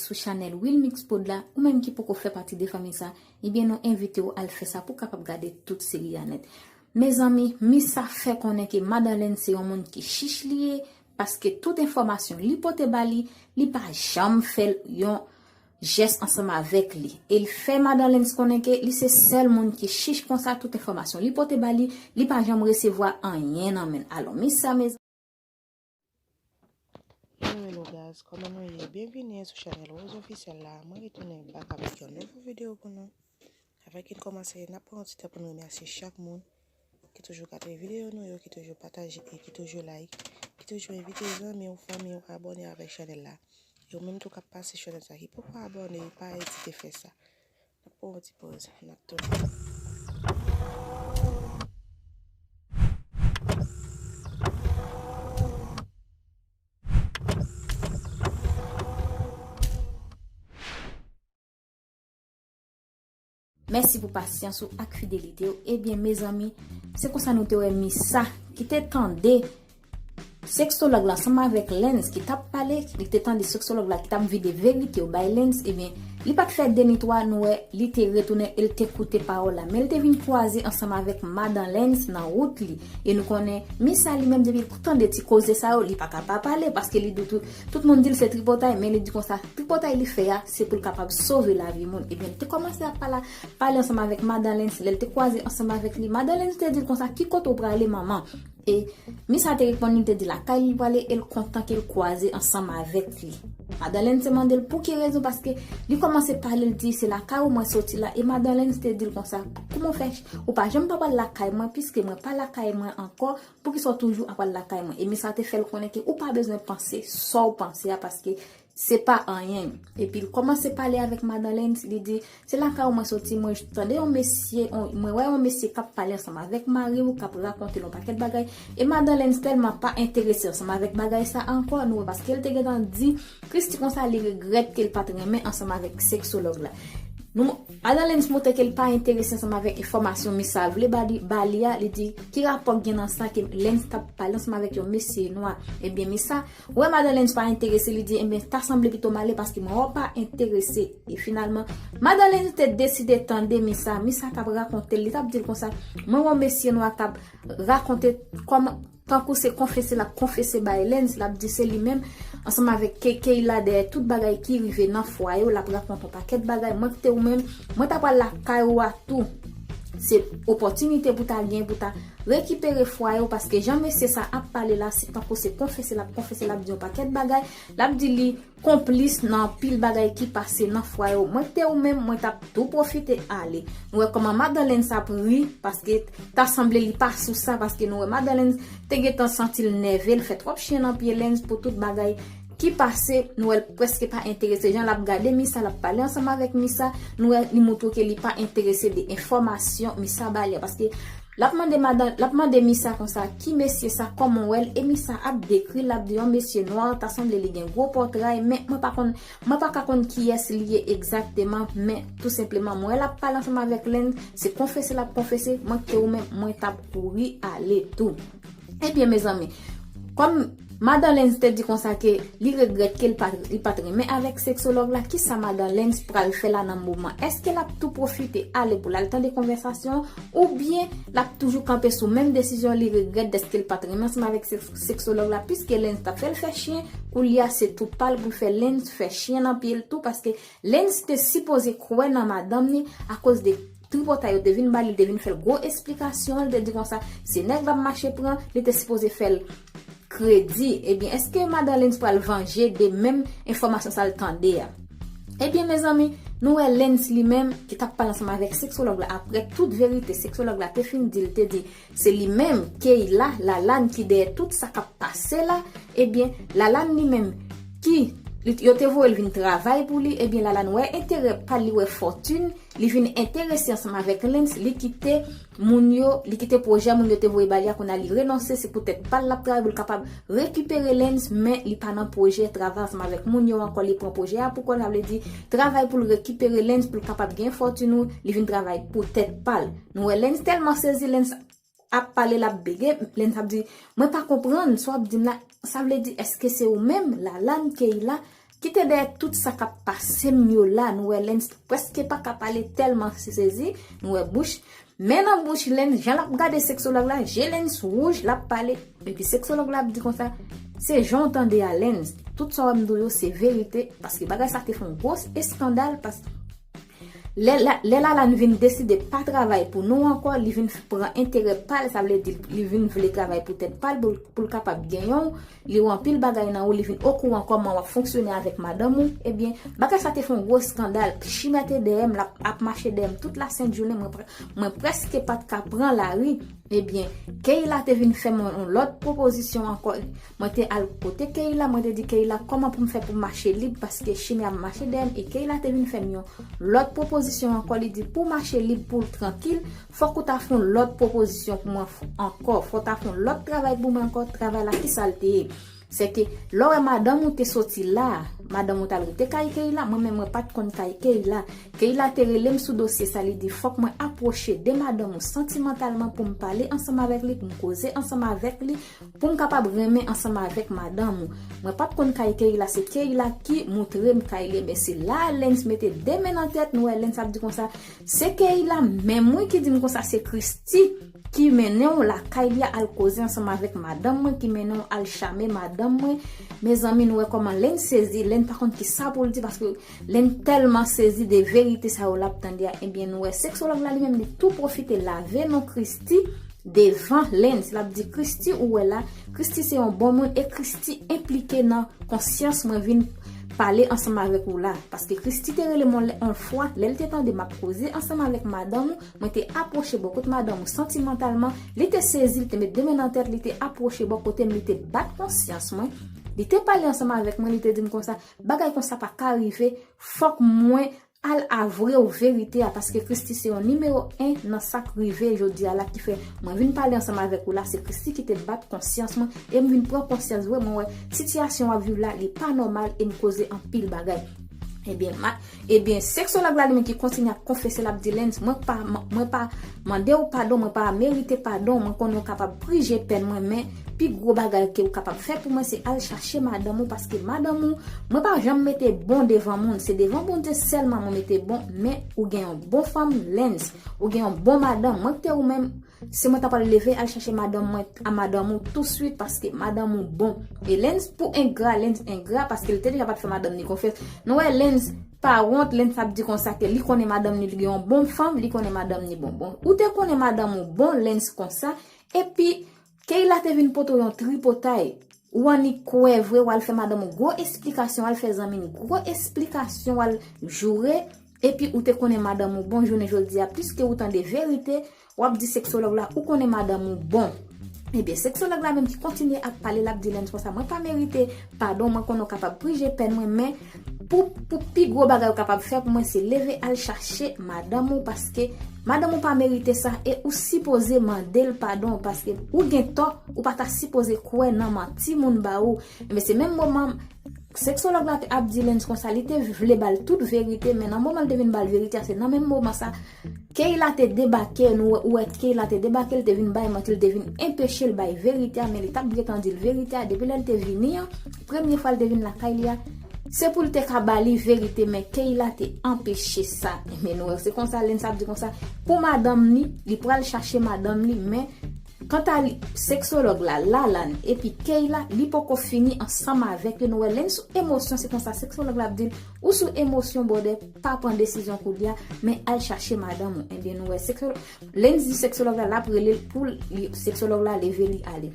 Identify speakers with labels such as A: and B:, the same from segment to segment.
A: sou chanèl Wilmix Prod la, ou menm ki poko fè pati de fanmi sa, ebyen nou envite ou al fè sa pou kapab gade tout seri a nèt. Mezanmi, Missa fè konnen ke Madan Lèn se yon moun ki chich li ye, paske tout enfòmasyon li pote ba li, li pa janm fè l yon jès ansanm avèk li e l fè Madan Lentz konnen ke li se sèl moun ki chich konsa tout enfòmasyon li pote ba li, li pa janm resevwa anyen nan men l. Alò mi sa mezanmi!
B: Anyway lo guys kòman nou ye byenvini sou chanèl Rose Officiel la mwen retounen back avèk yon nouvo video pou nou avèk yn kòmansè nap pran yon ti tan poun remèsye chak moun ki toujou gade videyo nou yo, ki toujou pataje e ki toujou like, ki toujou envite zanmi ou, fanmi ou abòne avèk chanèl la. E ou menm tou kap pase sou chanèl sa ki poko abòne, pa ezite fè sa. Nap pran yon ti poz, nap tounen.
A: Mèsi pou pasyans ou ak fidelite ou ebyen mezanmi se konsa nou te wè Missa ki te tande sexologue la ansanm avèk Lens ki tap pale li te tande sexologue la ki tap vide verite yo bay Lens ebyen li pat fè 2 ni 3 nou wè li te retounen el te koute pawòl la men li te vin kwaze ansanm avèk madan Lens nan wout li e nou konnen Missa li menm depil tande ti koze sa yo li paka pa pale paske li di tout moun dil se tripotay men li di konsa tripotay li fè a Se pou l kapab sove lavi moun. Ebyen, li te kòmanse ap pala, pale ansanm avèk Madan Lens. Lè l te kwaze ansanm avèk li, Madan Lens te di l konsa, ki kote ou prale manman? E, mis la te reponn li, li te di lakay li l prale e l kontan ke l kwaze ansanm avèk li. Madan Lens te mande l pou ki rezon, paske li kòmanse pale, li di, se lakay ou mwen soti la. E Madan Lens te di l konsa, kouman ou fè, ou pa janm pa pral lakay mwen, piske mwen pa lakay mwen ankò, poukisa ou toujou ap pral lakay mwen? E mis la te fè l konnen ke ou pa bezwen panse sa w panse a, paske Se pa anyen. Epi l kòmanse pale avèk Madan Lentz, li di, Se lakay ou mwen soti, mwen tande yon mesye, mwen wè yon mesye k ap pale ansanm avèk mari ou, k ap rakonte l yon pakèt bagay. E Madan Lentz tèlman pa enterese ansanm avèk bagay sa a ankò, nou wè paske l te gentan di Christie konsa li regrèt ke l pa t renmen ansanm avèk seksològ la. Nou, Madan Lentz montre ke l pa enterese ansanm avèk enfòmasyon Mis Sal vle ba li, ba li a, li di, Ki rapò k gen nan sa ke Lentz t ap pale ansanm avèk yon mesye nwa? Ebyen, Mis Sa, Wè madan Lenz pa enterese li di enben ta sanble pito male paske mwen wè w pa enterese e finalman madan Lenz te deside tande Misa, Misa tap rakonte l li tap di l konsa mwen wè w mesye nwa kap rakonte kòman tankou se konfese lap konfese bay Lenz lap di se li menm ansanm avèk K-Kay la dèyè tout bagay ki rive nan fwaye w lap rakonte yon pakèt bagay mwen kite w menm mwen ta pral lakay ou a tou se opòtinite pou ta gen pou ta Rekipere fwaye w paske jan mesye sa ap pale la se tankou se konfese lap konfese lap di yon pakèt bagay lap di li konplis nan anpil bagay ki pase nan fwaye w mwen te ou menm mwen tap tou pwofite ale nou wè kòman madan Lens ap ri paske ta sanble li pa sou sa paske nou wè madan Lens te gentan santi l nève l fè twòp chen nan pye Lens pou tout bagay ki pase nou wèl preske pa enterese jan lap gade Misa lap pale ansanm avèk Misa nou wè li moutre ke li pa enterese de enfòmasyon Misa bali a paske lap mande madan lap mande Misa konsa ki mesye sa kòman ou wèl e Misa ap dekri lap di yon mesye nwa ta sanble li gen gwo pòtray men mwen pa konn mwen pa ka konn kiyès li ye egzakteman men tou senpleman mwen wè lap pale ansanm avèk len se konfese lap konfese mwen kite ou menm mwen tap kouri ale tou. Ebyen mezanmi, kòm Madan Lenz te di konsa ke li regrèt ke li pat renmen avèk seksològ la, kisa Madan Lenz pral fè la nan moman? Eske lap tou pwofite ale pou lal tande konvèsasyon an oubyen lap toujou kanpe sou menm desizyon li regrèt dèske l pat renmen ansanm avèk seksològ la piske Lenz tap fèl fè chyen, koulye a se tou pal poul fè Lenz fè chyen nan pye l tou paske Lenz te sipoze kwè nan madanm ni akoz de Tripotay yo te vin ba li, li te vin fè l gwo esplikasyon, li te di konsa, se nèg Bab Mache pran, li te sipoze fè l kredi. Ebyen, èske Madan Lens pral vanje de menm enfòmasyon sa l tande a? Ebyen, mezanmi, nou wè Lens li menm, ki t ap pale ansanm avèk seksològ la aprè tout verite seksològ la te fin di l, te di. Se li menm Keyla Lalane ki dèyè tout sa kap pase la ebyen Lalane li menm ki yo te voyel vin travay pou li ebyen Lalane wè enterè pal li wè fòtin li vin enterese ansanm avèk Lens li kite moun yo li kite pwojè moun yo te voye bal ya kounya li renonse se pou tèt pal lap travay poul kapab rekipere Lens men li pa nan pwojè travay ansanm avèk moun yo ankò li pran pwojè ya pou kòl sa vle di travay poul rekipere Lens poul kapab gen fòtin ou li vin travay pou tèt pal. Nou wè Lens tèlman sezi, Lens ap pale l ap bege, Lens ap di, mwen pa konprann sa w ap di m la, sa vle di èske se ou menm, Lalane, Keyla, ki te dèyè tout sa k ap pase m yo la, nou wè Lens prèske pa ka pale tèlman se sezi, nou wè bouch, men nan bouch Lens, jan l ap gade seksològ la, je Lens wouj, l ap pale, epi seksològ la ap di konsa, se jan w tande a Lens, tout sa w ap m di w yo se verite, paske bagay sa te fon gwo eskandal, paske. Lè Lalane vin deside pa travay pou nou ankò, li vin pran enterè pa l, sa vle di li vin vle travay pou tèt pa l pou l kapab genyen w, li wè anpil bagay nan ou, li vin okouran kòman w ap fonksyone avèk madanm ou, ebyen, bagay sa te fè yon gwo eskandal, Chimè te dèyè m, l ap ap mache dèyè m tout lasent jounen, mwen prèske pa t ka pran lari, ebyen, Keyla te vin fè mwen yon lòt pwopozisyon ankò. Mwen te al kote Keyla, mwen te di Keyla kòman pou m fè pou m mache lib paske Chimè ap mache dèyè m e Keyla te vin fè m yon lòt pwopozisyon ankò li di pou w mache lib pou w trankil fòk ou ta fè yon lòt pwopozisyon pou mwen ankò fòk w ta fè yon lòt travay pou mwen ankò travay la kisa l te ye se te lè w wè madanm ou te soti la madanm ou t al rete kay Keyla mwen menm mwen pa t konn kay Keyla Keyla te rele m sou dosye sa li di fòk mwen apwoche de madanm ou santimantalman pou m pale ansanm avèk li pou m koze ansanm avèk li Pou m kapab renmen ansanm avèk madanm ou. Mwen pat konn kay Keyla se Keyla ki moutre m kay Lens men se la Lens mete 2 men nan tèt nou wè Lens ap di konsa se Keyla menm wi ki di m konsa se Christy ki mennen w lakay li a al koze ansanm avèk madanm mwen ki mennen w al chame madanm mwen mezanmi nou wè kòman Lens sezi Lens pa konn kisa pou l di paske Lè n tèlman sezi de verite sa yo l ap tande a, ebyen nou wè seksològ la li menm li tou pwofite lave non Christie devan Lens. L ap di, Christie ou wè la, Christie se yon bon moun e Christie enplike nan konsyans mwen vin pale ansanm avèk ou la. Paske Christie te rele m yon lè yon fwa, lè l te tande m ap koze ansanm avèk madanm ou, mwen te apwoche bò kot madanm ou santimantalman, li te sezi, li te met de men nan tèt, li te apwoche bò kote m, li te bat konsyans mwen, li te pale ansanm avèk mwen, li te di m konsa, Bagay konsa pa ka rive fok mwen Al avrew verite a paske christi se yon nimewo 1 nan sak rive jodia la ki fè mwen vin pale ansanm avek ou la se christi ki te bat konsyans mwen em vin pran konsyans vre mwen wè sitiyasyon wap viv la li pa nomal em koze anpil bagay ebyen Ebyen seksològ la li menm ki kontinye ap konfese lap di Lens mwen pa mwen pa mandew padon mwen pa merite padon mwen konnen ou kapab prije pèn mwen men pi gwo bagay ke ou kapab fè pou mwen se al chache madanm ou paske madanm ou mwen pa janm mete bon devan moun se devan Bondye sèlman mwen mete bon men ou gen yon bon fanm Lens ou gen yon bon madanm mwen kte ou menm Si mwen ta pral leve al chache madanm mwen a madanm ou tou swit paske madanm ou bon e Lens pou engra Lens engra paske li te deja pat fè madanm ni konfyans nou wè Lens pa wont Lens ap di konsa ke li konnen madanm ni li gen yon bon fanm li konnen madanm ni bon bon ou te konnen madanm ou bon Lens konsa epi Keyla te vin pote w yon tripotay ou annik kwè vre wal fè madanm ou gwo esplikasyon wal fè zanmi n gwo esplikasyon wal joure Epi ou te konnen madanm ou bon jounen jodia piske ou tande verite wap di sexologue la ou konnen madanm ou bon ebyen sexologue la menm ki kontinye ap pale lap di lens konsa mwen pa merite padon mwen konnen ou kapab prije pèn mwen men pou pou pi gwo bagay ou kapab fè pou mwen se leve al chache madanm ou paske madanm ou pa merite sa e ou sipoze mandel padon paske ou gen tò ou pa ta sipoze kwè nan manti moun ba ou ebyen se menm moman Seksològ la te ap di Lens konsa li te vle ba l tout verite men nan moman l te vin ba l verite a se nan menm moman sa Keyla te debake nou wè ou wè Keyla te debake l te vin bay manti l te vin enpeche l bay verite a men li t ap gentan di l verite a depi lè l te vini an premye fwa l te vin lakay li a se pou l te ka ba li verite men Keyla te anpeche sa men nou wè se konsa Lens ap di konsa pou madanm li li pral chache madanm li men Kanta li, seksològ la, Lalann, epi Keyla, li poko fini ansanm avèk yo, nou wè lè n sou emosyon se konsa seksològ la ap di l, ou sou emosyon bròdè, pa pran desizyon koulye a, men al chache madanm ou, enben nou wè seksològ, lè n di seksològ la, l ap rele l pou l, seksològ la leve li ale.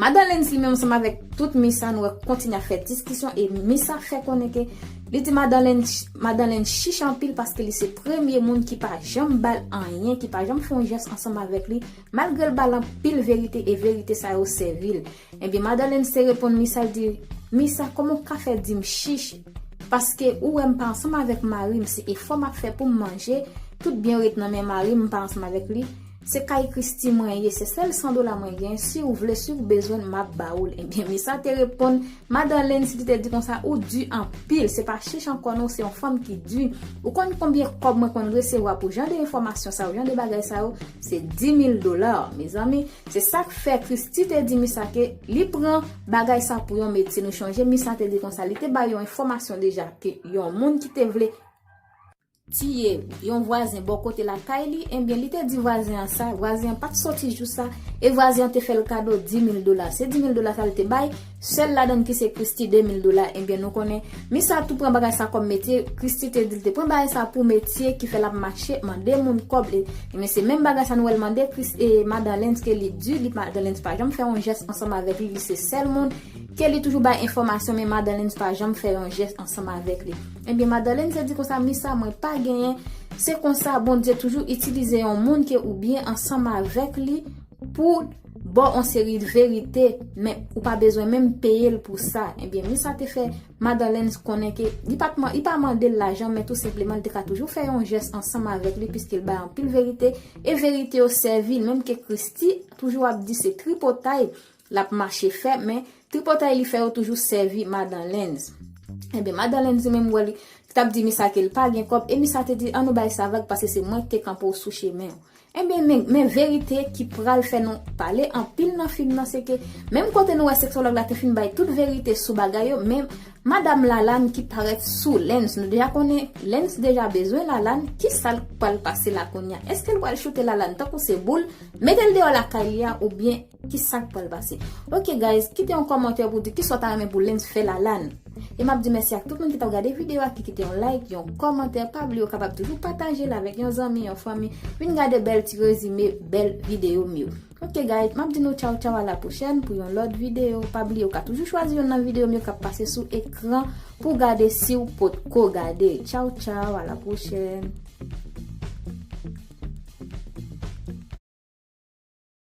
A: Madan Lens li menm ansanm avèk tout Misa nou wè kontinye ap fè diskisyon e Misa fè konnen ke Li di madan Lynn chich anpil paske li se premye moun ki pa janm bal anyen, ki pa janm fè yon jès ansanm avèk li, malgre l bal anpil verite e verite sa yo sèvi l. Ebyen madan Lynn te reponn Misa l di, Misa kòman w ka fè di m chich, paske ou wè m pa ansanm avèk mari m se efò m ap fè pou m manje, tout byen yo ret nan men mari m m pa ansanm avèk li, Se kay christie mwen ye se sèl 100 dola mwen gen siw vle siw bezwenl map ba oul ebyen Misa te reponn madan Lynn si li te di konsa ou di anpil se pa chich ankò non ou se yon fanm ki di ou konn konbyen kòb mwen konn resevwa pou jan de enfòmasyon sa yo jan de bagay sa yo se 10000 dola mezanmi se sak fè christie te di Misa ke li pran bagay sa pou yon metye nou chonje Misa te di konsa li te bay yon enfòmasyon deja ke yon moun ki te vle tiye yon vwazen bò kote lakay li, enbyen li te di vwazen an sa, vwazen an pat sòti jou sa, e vwazen an te fè l kado 10000 dola, se 10000 dola sa l te bay, sèl ladan l ki se Christie 2000 dola, enbyen nou konnen, mis sa tou pran bagay sa kòm metye, Christie te di l te pran bagay sa pou metye ki fè l ap mache mande moun kòb, enbyen se menm bagay sa nou wè l mande Christie, e madan Lens ke li di li, madan Lens pa janm fè yon jès ansanm avèk li, li se sèl moun ke li toujou bay enfòmasyon men madan Lens pa janm fè yon jès ansanm avèk li. Ebyen madalène se di konsa mi sa mwen pa genyen se konsa bondye toujou itilize yon moun ke ou byen ansanm avèk li pou baw yon seri verite men ou pa bezwen menm peyel pou sa ebyen mi sa te fè madalène konnen ke li pat li pa mandel lajan men tou senpleman li te ka toujou fè yon jès ansanm avèk li piskil bay anpil verite e verite yo sèvil menm ke christi toujou ap di se tripotay Lap mache fè men tripotay li fè yo toujou sèvi madan Lens. Enben madan Lens li menm wè li tap di Misa kel pa gen kòb e Misa te di an nou bay sa vag pase se mwen ki te kanpe w sou chemen w. Enben men men verite ki pral fè nou pale anpil nan fim nan se ke menm kote nou wè seksològ la te fin bay tout verite sou bagay yo men madam Lalane ki parèt sou Lens nou deja konnen Lens deja bezwen Lalane kisa l pral pase la kounya eske l pral choute Lalane tankou se boul mete l deyò lakay li a oubyen Ki sak pral pase. Ok guys kite yon kòmantè pou di kisa w ta renmen pou Lens fè Lalane. E map di mèsi ak tout moun ki tap gade video a ki kite yon like, yon kòmantè, pa bliye w kapab toujou pataje l avèk yon zanmi, yon fanmi, vin gade bèl ti rezime bèl video m yo. Ok guys map di nou tchaw tchaw a la pwochèn pou yon lòt video, pa bliye w ka toujou chwazi yonn nan video m yo kap pase sou ekran pou gade siw potko gade. Tchaw tchaw a la pwochèn.